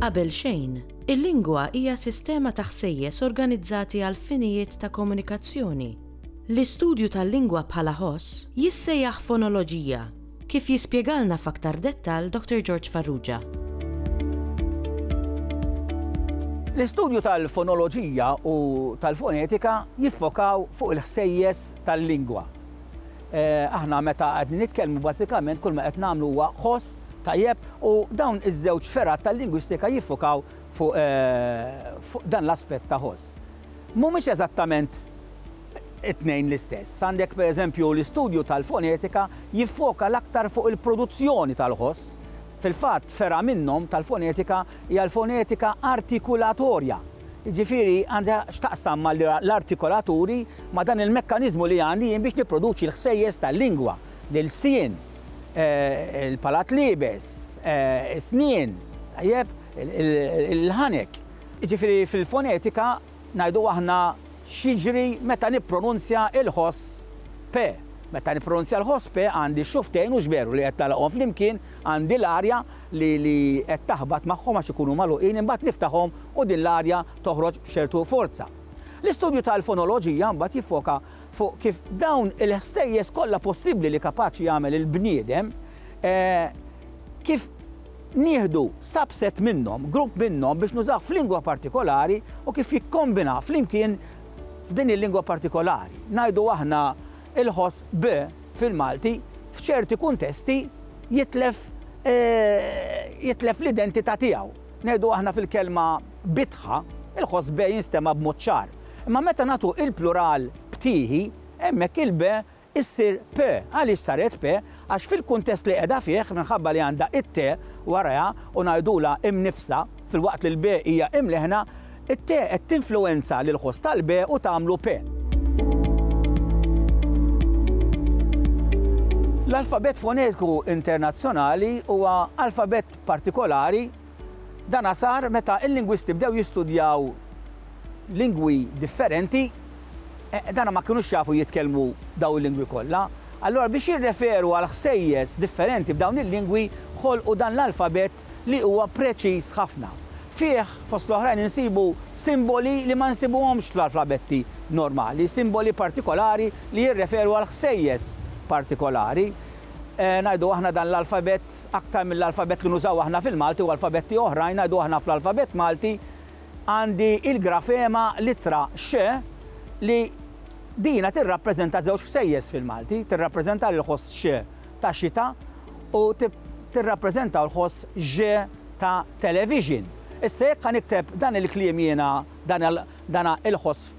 Qabel xejn, il-lingwa hija sistema ta' ħsejjes organizzati għal finijiet ta' komunikazzjoni. L-istudju tal-lingwa bħala ħoss jissejjaħ fonoloġija Kif jispjegalna f'aktar dettall Dottor George Farrugia. L-istudju tal-fonoloġija u tal-fonetika jiffokaw fuq il-ħsejjes tal-lingwa. Aħna meta qegħdin nitkellmu bażikament kull ma qed nagħmlu huwa ħoss, tajjeb, u dawn iż-żewġ fergħat tal-lingwistika jiffokaw fuq dan l-aspett ta' ħoss. mhumiex eżattament it-tnejn l-istess. Għandek, per eżempju, l-istudju tal-fonetika jiffoka l-aktar fuq il-produzzjoni tal-ħoss. Fil-fatt, fergħa minnhom tal-fonetika hija l-fonetika artikulatorja. Jiġifieri, għandha x'taqsam mal-artikolaturi, ma' dan il-mekkaniżmu li għandi jien biex nipproduċi l-ħsejjes tal-lingwa, l-ilsien, il-palat liebes, is-snien, tajjeb, il-ħanek. Jiġifieri fil-fonetika ngħidu aħna x'jiġri meta nippronunzja l-ħoss p. Meta nippronunzja l-ħoss p għandi x-xufftejn u x'veru li qed nagħlaqhom flimkien, għandi l-arja li li qed taħbat magħhom għax ikunu magħluqin imbagħad niftaħhom u din l-arja toħroġ b'ċertu forza. L-istudju tal-fonoloġija mbagħad jiffoka fuq kif dawn il-ħsejjes kollha possibbli li kapaċi jagħmel il-bniedem, kif nieħdu subset minnhom, grupp minnhom biex nużawh f'lingwa partikolari u kif jikkombinah flimkien f'din il-lingwa partikolari. Ngħidu aħna il-ħoss b' fil-Malti f'ċerti kuntesti jitlef jitlef l-identità tiegħu. Ngħidu aħna fil-kelma bitħa, il-ħoss be jinstema' b'mod ċar. Imma meta nagħtu l-plural btieħi, hemmhekk il-be issir pe. Għaliex saret pe? Għax fil-kuntest li qiegħda fih, minħabba li għandha t-te warajha u ngħidulha imniffsa, filwaqt li l-be hija imleħna, it-te qed tinfluwenza lill-ħoss tal-be u tagħmlu pe. L-alfabett fonetiku internazzjonali huwa alfabett partikolari, dan sar meta l-lingwisti bdew jistudjaw lingwi differenti, dan ma kinux jafu jitkellmu dawn il-lingwi kollha, allura biex jirreferu għal ħsejjes differenti b'dawn il-lingwi ħolqu dan l-alfabett li huwa preċiż ħafna. Fih, fost l-oħrajn insibu simboli li ma nsibuhomx fl-alfabetti normali, simboli partikolari li jirreferu għal ħsejjes partikolari. Ngħidu aħna dan l-alfabett aktar mill-alfabett li nużaw aħna fil-Malti u alfabetti oħrajn, ngħidu aħna fl-alfabett Malti għandi l-grafema l-ittra x li dina tirrappreżenta żewġ ħsejjes fil-Malti, tirrappreżenta l-ħoss x ta' xita u tirrappreżenta l-ħoss ž ta' television. Issa jekk ħa nikteb dan il-kliem jiena, dana il-ħoss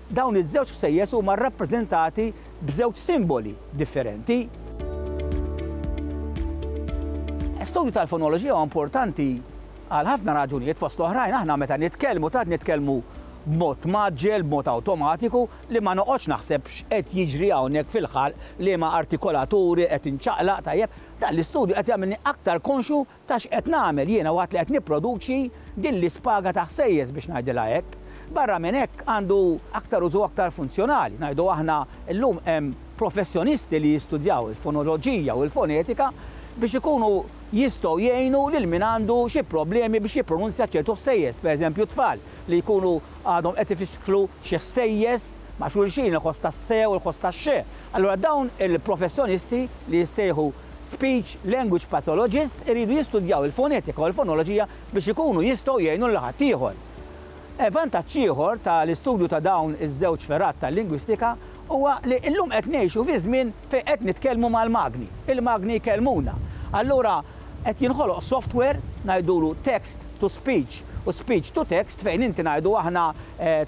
Dawn iż-żewġ ħsejjes huma rrappreżentati b'żewġ simboli differenti. L-istudju tal-fonoloġija huwa importanti għal ħafna raġunijiet, fost l-oħrajn aħna meta nitkellmu tant nitkellmu b'mod mgħaġġel, b'mod awtomatiku li ma noqgħodx naħseb x'qed jiġri hawnhekk fil-ħalq, liema artikolaturi qed inċaqlaq, tajjeb, dan l-istudju qed jagħmilni aktar konxju Ta' x'qed nagħmel jiena waqt li qed nipproduċi din l-ispaga ta' ħsejjes biex ngħidilha hekk. Barra minn hekk għandu aktar użu aktar funzjonali. Ngħidu aħna llum hemm professjonisti li jistudjaw il-fonoloġija u l-fonetika biex ikunu jistgħu jgħinu lil min għandu xi problemi biex jippronunzja ċertu ħsejjes, pereżempju t-tfal li jkunu għadhom qed ifixklu xi ħsejjes ma' xulxin, il-ħoss tas-se u l-ħoss tax-xe. Allura dawn il-professjonisti li jissejħu Speech language pathologists iridu jistudjaw il-fonetika u l-fonoloġija biex ikunu jistgħu jgħinu lil ħaddieħor. Vantaġġ ieħor ta' l-istudju ta' dawn iż-żewġ fergħat tal-lingwistika huwa li illum qed ngħixu fi żmien fejn qed nitkellmu mal-magni, il-magni jkellmuna. Allura qed jinħoloq software, ngħidulu text to speech u speech to text fejn inti ngħidu aħna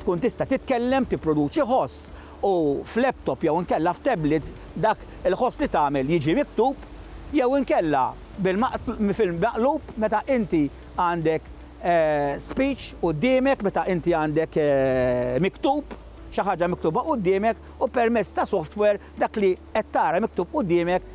tkun tista' titkellem, tipproduċi ħoss u f'laptop jew inkella f'tablet dak li tħoss li tagħmel jiġi miktub jew inkella fil-maqlub meta inti għandek speech quddiemek, meta inti għandek miktub, xi ħaġa miktuba quddiemek u permezz ta' software dak li qed tara miktub quddiemek